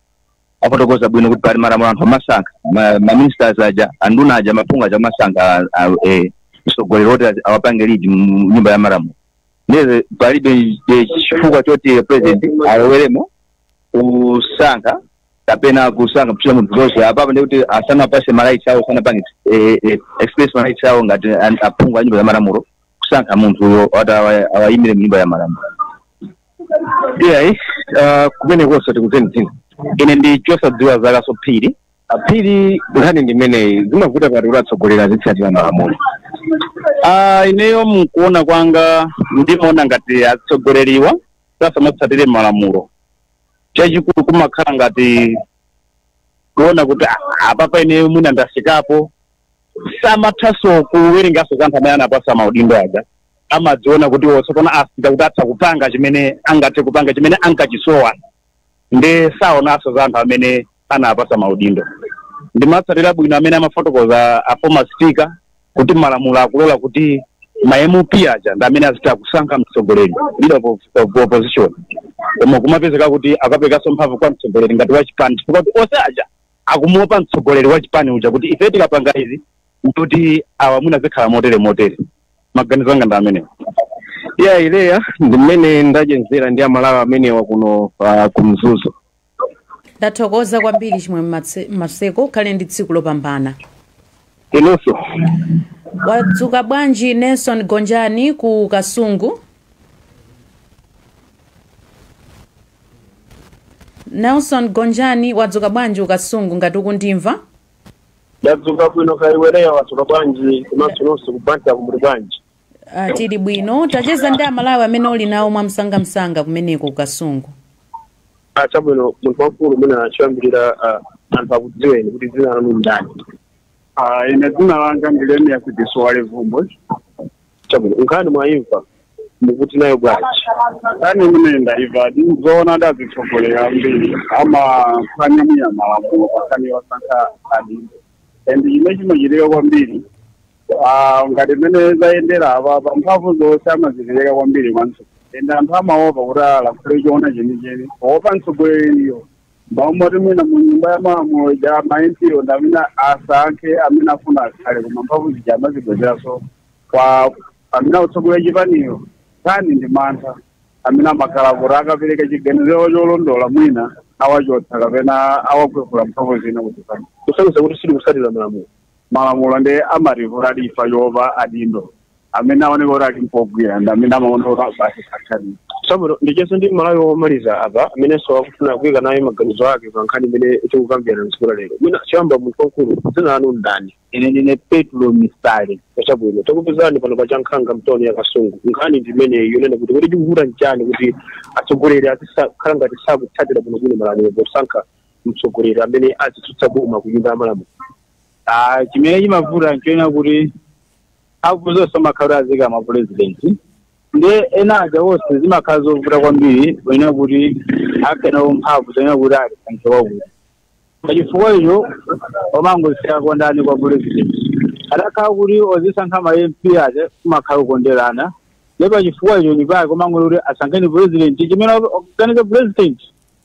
afotokoza bwino kuti pali malamulo anthu amasankha Ma- maministers aja anduna aja maphungu aja amasankha ah, eh, mtsogoleri woti awapange lead mu nyumba ya malamulo ndiye palibe eh, chifukwa choti president aloweremo kusankha kapena kusankha kuchita munthu zonse apapa ndikuti asanawapase ma rights awo sanapange eh, eh, express ma rights awo ngati an- aphungu a nyumba za malamulo kusankha munthuyo ati awa- awayimire mu nyumba ya malamulo iyayi kumenekonso tikudziweni dzina ine ndi Chosadziwa Zakaso Phiri a Phiri nkhani ndi imeneyi zimavuta pati kuti atsogoleri azitsatira malamulo Ah, ineyo mkuona kwanga ndimaona ngati atsogoleriwa asamatsatire malamulo chachikulu kumakhala ngati kuona kuti "Ah, apapa ineyo mwina ndafikapo samathaso kuwerengaso za anthu amene anawapasa maudindo aja amadziona kuti tsopano afika kuti atha kupanga chimene angathe kupanga chimene ankachisowa nde saonanso za anthu amene anawapasa maudindo ndimatsatira bwino mmene amafotokoza a former speaker kuti malamulo akulola kuti ma MP aja ndi amene azitha kusankha mtsogoleri leader of, of opposition koma kumapezeka kuti akaperekanso mphamvu kwa mtsogoleri ngati wachipani chifukwa kuti onse aja akumuopa mtsogoleri wachipani uja kuti ife tikapanga izi kuti awa mwina zikhala motere motere maganizo anga ndi amenewo iya Ileya ndi mmene ndachezera ndi amalawi amenewa kuno uh, kumzuzu ndathokoza kwambiri Chimwe- Matse- maseko ukhale ndi tsiku lopambana inunso wadzuka bwanji nelson gonjani ku kasungu nelson gonjani wadzuka bwanji ku kasungu ngati ukundimva Ndadzuka bwino kaya iweyo wadzuka bwanji komanso nonse kubanja kumuli bwanji? Ah, tili bwino tacheza ndi amalawi amene uli nawo mwamsangamsanga kumeneko ku kasungu Ah, chabwino munthu wamkulu mwina choyambirira ah, anthu akudziweni kuti dzina lanu ndani? Ah, ine dzina langa ndi Lemiya Diswale Vumbwe. chabwino nkhani mwayimva mukuti nayo bwanji nkhani imene ndaiva ndizoona kuti azitsogoleri ambiri amaphwanya mwina malamulo pankhani yosankha adindo and chimene chimachitika kwambiri ah, ngati mmene zayendera apa pa mphamvu zonse amazipereka kwambiri kwanso and anthu amaopa kuti alakhule choona chenicheni kuopa mtsogoleriyo mwamoti mwina mu nyumba ya malamulo ja ma MP wo ndi amene asankhe amene afuna akhale koma mphamvu zija amazibwezeranso kwa amene akutsogolera chipaniyo nkhani ndi mantha amene amakhala kuti akapereka chiganizo cholondola mwina awachotsa kapena awakwefula mphamvu zina kuchipani kusonyeza kuti sali kutsatira malamulo malamulo ndi amatipula chifa choopa adindo amene aoneka kuti ali mpogwira ndi amene amaona kuti basi sankhani chabwino ndicheze ndi mmalawi womaliza apa amenenso akufuna kuika naye maganizo ake pa nkhani imene tikukambirana mtsiku la lero mwina choyamba munthu wamkulu dzina lanu ndani ine ndine petro misale chabwino takupezani pano pa chankhanga mtoni ya kasungu nkhani ndi imeneyi yonena kuti kuti chikuvuta nchani kuti atsogoleri azikhala ngati sakutsatira bwinobwino malamulo posankha mtsogoleri amene azitsutsa boma kunyumba ya malamulo Ah, chimene chimavuta nchonena kuti mphamvu zonse amakhala aziika mwa president ndiye ena aja wonse zimakhala zovuta kwambiri kunena kuti akhale nazo mphamvu zoyenera kuti alisankhe wakuti pachifukwa icho omangosiyako kondani kwa president akakhala kuti ozisankha ma mp aja kumakhala kukonderana ndiye pachifukwa icho nchifukwa chake omangoti kuti asankheni president chimene akuganiza president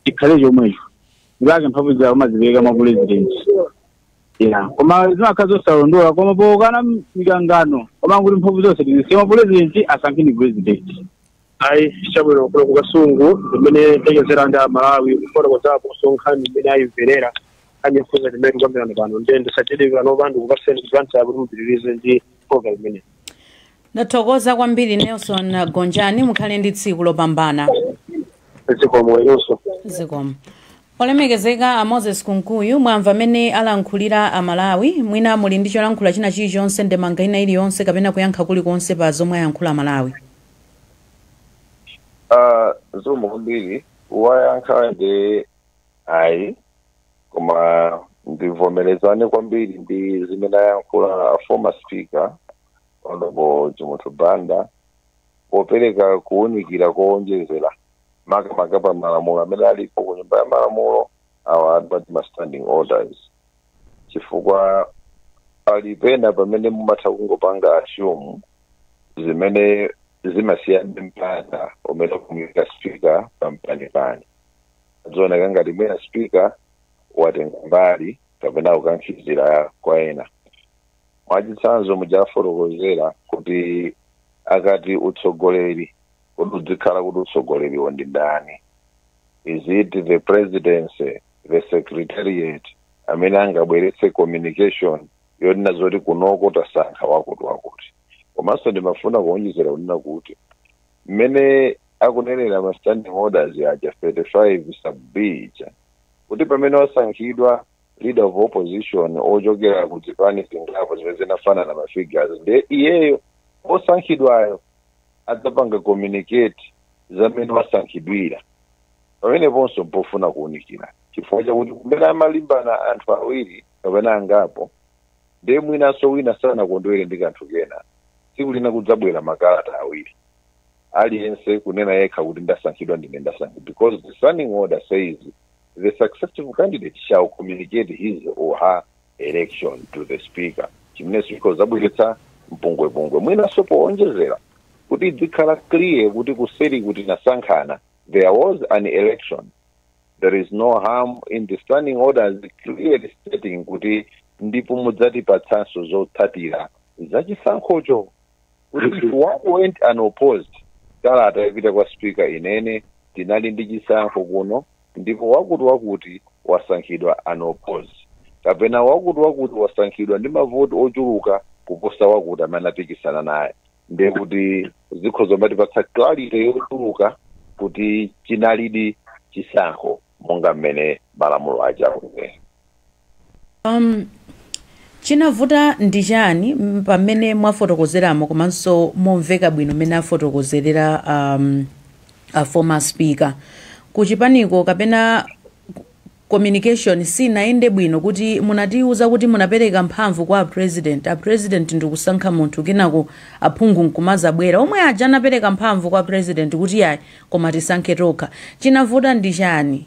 chikhale chomwecho nchifukwa chake mphamvu zake amazipereka mwa president ya koma zimakhala zosalondola koma pokakana mikangano koma kuti mphamvu zonse tizisiye mwa pulezidenti asankheni pulezidenti ayi chabwino kuno ku kasungu ndi mmene tachezera ndi amalawi kufotokozapo nkhani mmene ayimverera anyefuza zimene tikukambirana pano ndiye ndisachedwe pano ndikupatseni kulansa kuti mupitirize ndi program imeneyi ndathokoza kwambiri nelson gonjani mukhale ndi tsiku lopambana zikomo inunso zikomo olemekezeka a moses kunkuyu mwamva mmene alankhulira amalawi mwina muli ndi cholankhula china chilichonse ndemanga ina iliyonse kapena kuyankha kulikonse pa zomwe ayankhula amalawi Ah, zikomo kwambiri wayankha ndi ayi koma ndivomerezane kwambiri ndi zimene ayankhula a former speaker honorable chimunthu banda popereka kuwunikira kowonjezera makamaka pa malamulo amene alipo ku nyumba ya malamulo awa adbat ma standing orders chifukwa ali pena pamene mumatha kungopanga assume zimene zimasiya mpata umene kumuika speaker pampanipani azioneka ngati mwina spika watenga mbali kapena kukankhizira kwa ena mwachitsanzo mujafotokozera kuti akati utsogoleri kodi udzikhala kuti utsogoleriwo ndi ndani is it the presidency the secretariat amene angabweretse communication yonena zoti kunoko tasankha wakuti wakuti komanso ndimafuna kuonjezera kunena kuti mmene akunenera ma standing orders aja 35 sub b ija kuti pamene wasankhidwa leader of opposition wochokera ku zipani zingapo zimene zinafanana ma figures ndiye iyeyo wosankhidwayo adzapanga communicate za mmene wasankhidwira pameneponso mpofuna kuunikira chifukwa chakuti kumene amalimbana anthu awiri kapena angapo ndiye mwinanso wina sanakondwere ndi kanthu kena tsiku lina kudzabwera makalata awiri aliyense kunena yekha kuti ndasankhidwa ndine ndasankhidwa because the standing order says the successful candidate shall communicate his or her election to the speaker chimenenso chikhoza kudzabweretsa mpungwepungwe mwinanso powonjezera kuti idzikhala clear kuti kuseri kutinasankhana there was an election there is no harm in the standing orders clearly stating kuti ndipo mudzatipatsanso zotsatira za chisankhocho kuti if one went unopposed kalata yapita kwa speaker inene tinali ndi chisankho kuno ndipo wakuti wakuti wasankhidwa unopposed kapena wakuti wakuti wasankhidwa ndi mavoti ochuluka kuposa wakuti amene anapikisana naye ndiye kuti zikhoza kumatipatsa clarity yochuluka kuti chinalidi chisankho monga mmene malamulo aja akunena um, chinavuta ndi chani m- pamene mwafotokozeramo komanso momveka bwino mmene afotokozerera um, a former speaker kuchipaniko kapena communication sinayende bwino kuti munatiuza kuti munapereka mphamvu kwa a president, a president ndikusankha munthu kenako aphungu nkumadzabwera omwe aja anapereka mphamvu kwa president kuti yayi koma tisankhe tokha. Chinavuta ndi chani?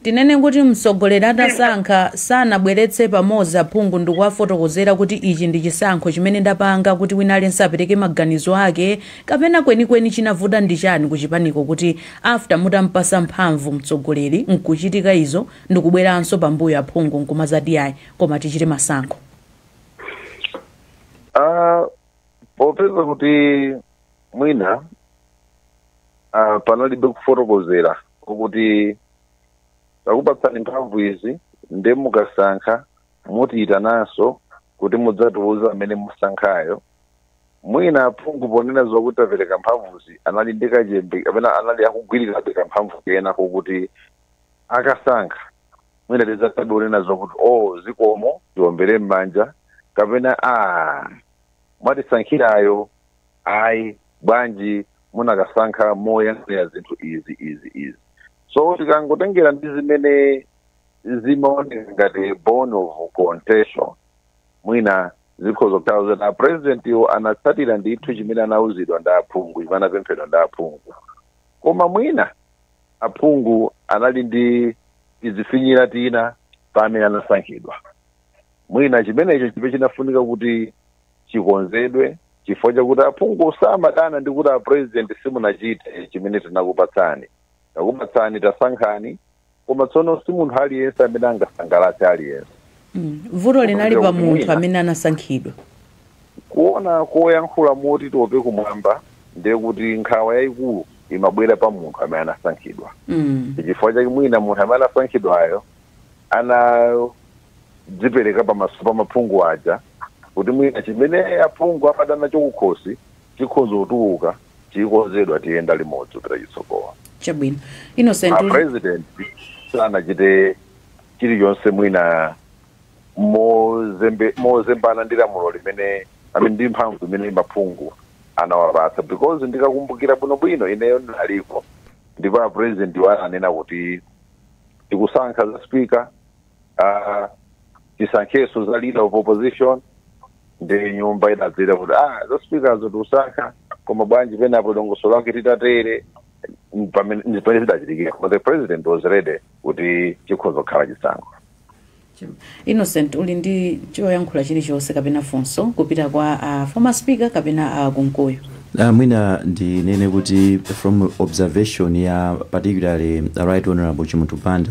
Tinene kuti mtsogoleri atasankha sanabweretse pamodzi aphungu ndikuwafotokozera kuti ichi ndi chisankho chimene ndapanga kuti wina aliyense apereke maganizo ake kapena kwenikweni chinavuta ndi chani kuchipaniko kuti After mutampasa mphamvu mtsogoleri nkuchitika izo ndikubweranso pambuyo aphungu nkumadzati ayi koma tichite masankho. Ah, popeza kuti mwina ah, panalibe kufotokozera kuti takupatsani mphamvu izi nde mukasankha mutiyitananso kuti mudzatiuze amene mwasankhayo mwina aphungu ponena zokuti tapereka mphamvuzi anali ndi kachembe kapena anali akugwirirabe kamphamvu kena kokuti akasankha mwina tidzathabe kunena zokuti o zikomo tiwombere m'manja kapena a mwatisankhirayo ayi bwanji munakasankha moyang'anira zinthu izi izi izi so tikangotengera ndi zimene zimaoneka ngati bone of contention mwina zikhoza kutheka zoti apurezidentiwo anatsatira ndithu chimene anauzidwa ndi aphungu chimene anapemphedwa ndi aphungu koma mwina aphungu anali ndi tizifinyira tina pa amene anasankhidwa mwina chimenecho chija chinafunika kuti chikonzedwe chifukwa chakuti aphungu samadana ndi kuti apurezidenti simunachite chimene tinakupatsani takupatsani tasankhani koma tsono si munthu aliyense amene angasangalatse aliyense Mm. vuto linali Kumbukira pa munthu kuti amene anasankhidwa kuona koyankhula moti tope kumwamba ndiye kuti nkhawa yayikulu imabwera pa munthu amene anasankhidwa Mm. chifukwa chake mwina munthu amene anasankhidwayo anadzipereka pamaso pa maphungu aja kuti mwina chimene aphungu amadana chakukhosi Chikhoza kutuluka chikonzedwa tiyenda limodzi kupita chitsogolo. Chabwino. Innocent, A uli. president sanachite chilichonse mwina mozembe, mozembana ndi lamulo limene I mean ndi mphamvu imene maphungu anawapatsa because ndikakumbukira bwino bwino ineyo ndinaliko ndipo a president wo ananena kuti tikusankha za speaker ah, tisankhenso za leader of opposition ndi nyumba idadzira kuti ah za speaker zo tikusankha koma bwanji penapo dongosolo lake titatere Ndi pamene ndi pamene zidachitikira koma the president was ready kuti chikhoza kukhala chisankho innocent uli ndi choyankhula chilichonse kapena funso kupita kwa uh, former speaker kapena a Kunkuyu Uh, mwina ndinene kuti from observation ya particularly the right honorable chimunthu banda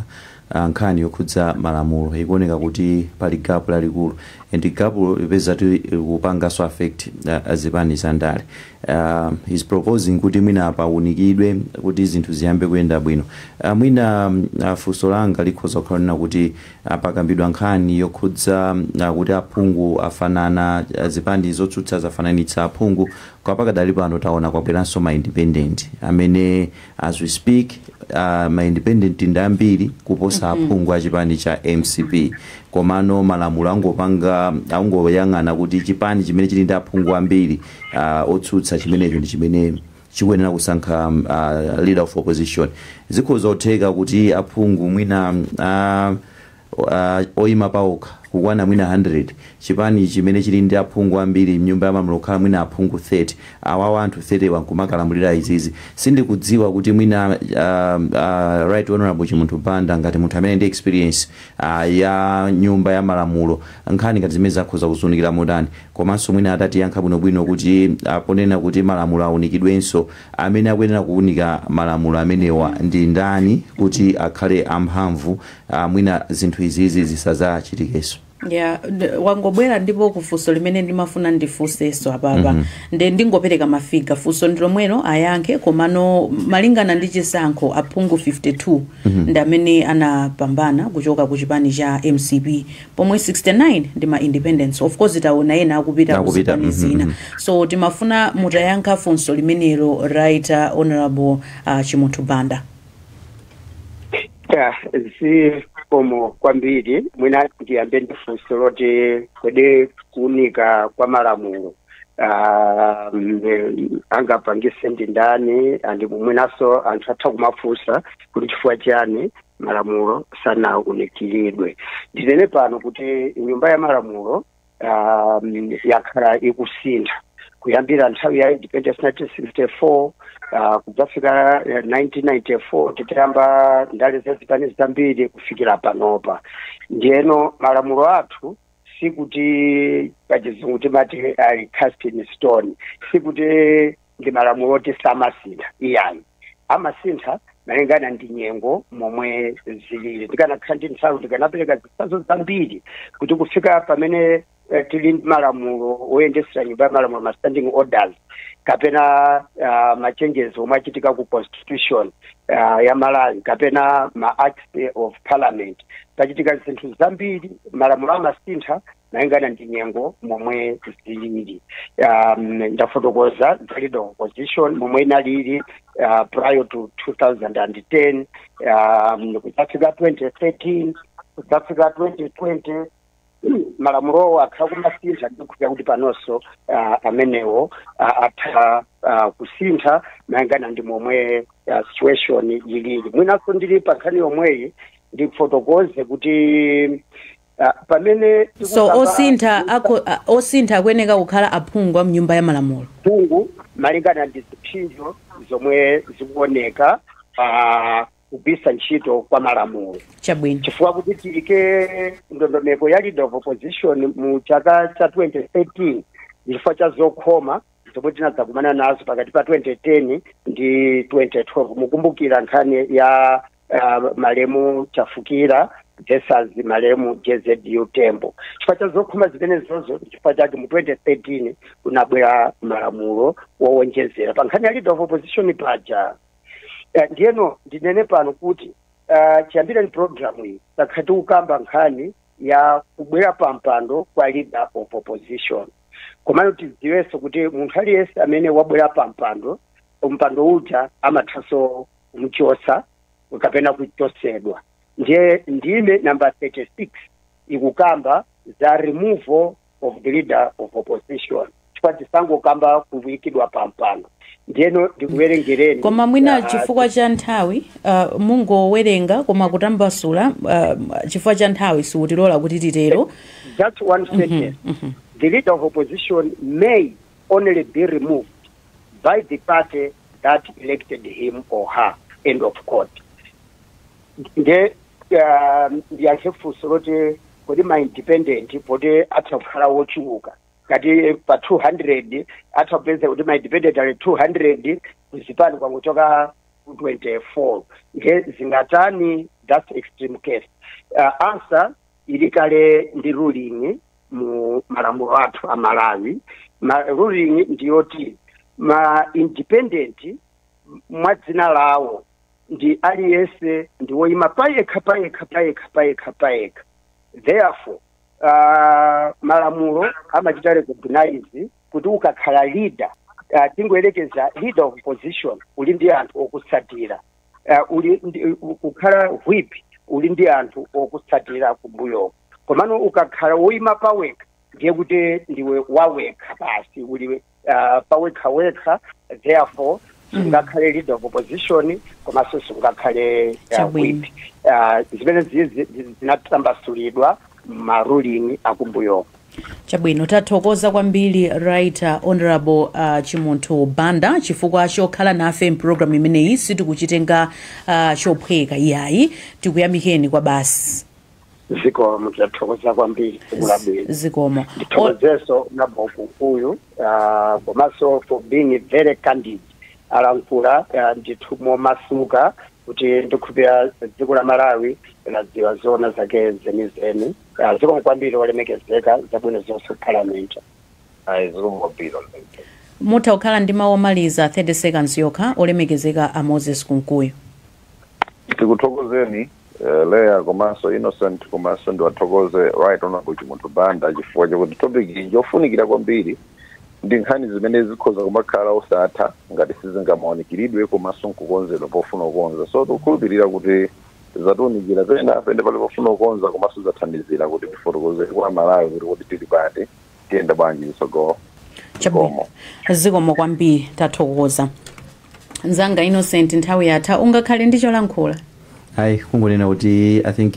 a Nkhani yokhudza malamulo ikuoneka kuti pali gap lalikulu and gapulo likupezeka kuti likupanganso affect zipani za ndale he's proposing kuti mwina paunikidwe kuti zinthu ziyambe kuyenda bwino. Mwina funso langa likhoza kukhala lonena kuti pakambidwa nkhani yokhudza kuti aphungu afanana, zipani zotsutsa zafananitsa aphungu koma pakadali pano taona kwabweranso ma independent amene as we speak uh, ma independent ndi ambiri kuposa aphungu a chipani cha mcp komano malamulo angopanga angoyang'ana kuti chipani chimene chili ndi aphungu ambiri uh, otsutsa chimenecho ndi chimene chikuyenera kusankha um, uh, leader of opposition zikhoza kutheka kuti aphungu mwina uh, a oima paokha kukwana mwina 100, chipani chimene chili ndi aphungu ambiri mnyumba ya malamulo kukhala mwina aphungu 30, awawa anthu 30 wa nkumakalamulira izizi sindikudziwa kuti mwina a a Right Honourable Chimunthu Banda ngati munthu amene ndi experience a ya nyumba ya malamulo nkhani ngati zimenezi akhoza kuziunikira motani komanso mwina atatiyankha bwinobwino kuti a ponena kuti malamulo aunikidwenso amene akuyenera kuunika malamulo amenewa ndi ndani kuti akhale amphamvu aah mwina zinthu izizi zisazachitikeso. Yeah, mwangobwera ndipo kufunso limene ndimafuna ndifunseso apapa Mhm. nde ndingopereka mafiga funso ndilomwelo ayankhe komano malingana ndi chisankho aphungu 52 Mhm. ndi amene anapambana kuchoka ku chipani cha mcp pomwe 69 ndi ma independents of course taona ena akupita ku Akupita, zipani mhm, zina mhm. so timafuna mutayankha funso limenelo right uh, honorable uh, chimunthu banda ta zikomo kwambiri mwina ndiyambe ndi funso loti kodi kuunika kwa malamulo ah, mm, angapangise ndi ndani andi mwinanso anthu atha kumafunsa kuti chifukwa chiyani malamulo sanaunikiridwe ndinene pano kuti nyumba ya malamulo um, yakhala ikusintha kuyambira nthawi ya independence 1964 uh, kudzafika eh, 1994 titayamba ndale za zipani zambiri kufikira panopa ndiyeno malamulo athu sikuti pachizungu timati ali cast in stone sikuti ndi malamulo oti samasintha iyayi amasintha malingana ndi nyengo momwe zilili ndikanakhala ndi nthawi ndikanapereka zitsanzo zambiri kuti kufika pamene eh, tili ndi malamulo oyendesera nyumba ya malamulo ma standing orders kapena ah, machanges omwe achitika ku constitution ah, ya malawi kapena ma acts of parliament pachitika zinthu zambiri malamulo amasintha malingana ndi nyengo momwe zilili um, ndafotokoza leader of opposition momwe inalili uh, prior to 2010 um, kudzafika 2013 kudzafika 2020 malamulowo akhala kumasintha ndiye kuti panonso uh, amenewo uh, atha uh, kusintha malingana ndi momwe uh, situation ilili mwinanso ndili pa nkhani yomweyi ndifotokoze kuti Ah, pamene so tikukamba osintha anthu akho- a- osintha akuyeneka kukhala aphungu a mnyumba ya malamulo phungu malingana ndi ziphinjo zomwe zikuoneka pa kugwiritsa ntchito kwa malamulo chabwino chifukwa kuti tiyike ndondomeko ya leader of opposition mu chaka cha 2013 ndi chifukwa cha zokhoma zomwe tinadzakumana nazo pakati pa 2010 ndi 2012 mukumbukira nkhani ya uh, malemu chafukira versus malemu jzu tembo chifukwa cha zokhoma zimenezozo nchifukwa chake mu 2013 kunabwera malamulo wowonjezera pa nkhani ya leader of opposition paja Eh, ndiyeno ndinene pano kuti uh, chiyambireni programu iyi takhala tikukamba nkhani ya kubwera pa mpando kwa leader of opposition komano tidziwenso kuti munthu aliyense amene wabwera pa mpando mpando uja amathanso kumchosa kapena kuchosedwa ndiye ndime namba 36 ikukamba za removal of the leader of opposition chifukwa tisangokamba kuikidwa pampando ndiyeno ndikuwerengereni koma mwina ah, chifukwa cha nthawi uh, mungowerenga koma kutambasula uh, chifukwa cha nthawi sikutilola kuti titero just one sentence the leader of opposition may only be removed by the party that elected him or her end of quote nde ah, ndiyankhe funso loti kodi ma independent poti atakhala wochuluka kuti pa 200 atapezeka kuti ma independent ali 200 kuzipani kwangochokako 24 nde zingatani that's extreme case uh, answer ili kale ndi ruling mu malamulo athu a malawi ruling ndiyoti ma independent mwa dzina lawo ndi aliyense ndi woyima payekha payekha payekha payekha payekha therefore uh, malamulo amachita recognize kuti ukakhala leader uh, tingoyerekeza leader of opposition uli ndi anthu okutsatira uh, uli ndi, u- ukakhala whip uli ndi anthu okutsatira kumbuyoko komano ukakhala woyima pawekha ndiye kuti ndiwe wawekha basi uli uh, pawekha wekha therefore sungakhale leader of opposition komanso sungakhale uh, whip uh, zimene ziye zi- zi- zinatambasulidwa ma ruling akumbuyoko Chabwino tathokoza kwambiri Right Hon a Chimunthu Banda chifukwa chokhala nafe m'program imeneyi sitikuchitenga chophweka iyayi tikuyamikeni kwabasi. Zikomo tathokoza kwambiri tsiku labwino. Zikomo. Ndithokozeso abambo Kunkuyu komanso for being very candid alankhula ndithu momasuka kuti ndikhulupira dziko la Malawi ladziwa zoona zake zenizeni. Ah, zikomo kwambiri olemekezeka zabwino zonse ku parliament ayi zikomo kwambiri olemekezeka mutha kukhala ndi mawu omaliza 30 seconds yokha olemekezeka a moses kunkuyu tikuthokozeni eh, leya komanso innocent komanso ndiwathokoze right honorable chimunthu banda chifukwa chakuti topic iyi njofunikira kwambiri ndi nkhani zimene zikhoza kumakhala osatha ngati sizingamaunikiridwe komanso nkukonzedwa pofuna kukonza so tikukhulupirira kuti Zatiunikira pena pene pali pofuna kukonza komanso zathandizira kuti tifotokozere kwa Amalawi kuti kodi tili pati, tiyenda bwanji chitsogolo. Chabwino. Zikomo. Zikomo kwambiri. Tathokoza. Mzanga Innocent nthawi yatha. Ungakhale ndi cholankhula? Ayi, kungonena kuti I think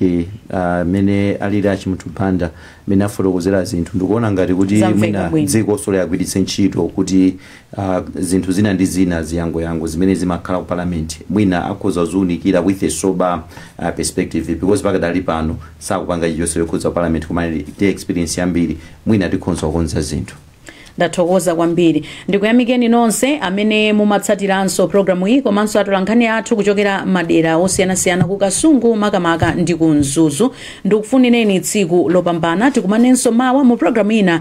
ah, mmene alili a Chimunthu Banda, mmene afotokozera zinthu, ndikuona ngati kuti mwina dzikonso liagwiritse ntchito kuti a zinthu zina ndi zina ziyangoyango zimene zimakhala ku parliament mwina akhoza kuziunikira with a sober perspective because pakadali pano sakupanga chilichonse chokhudza ku parliament koma ali ndi experience yambiri mwina tikhonza kukonza zinthu ndathokoza kwambiri ndikuyamikeni nonse amene mumatsatiranso programu iyi komanso atolankhani athu kuchokera madera osiyanasiyana ku kasungu makamaka ndi ku mzuzu ndikufunireni tsiku lopambana tikumanenso mawa mu pulogalamu ina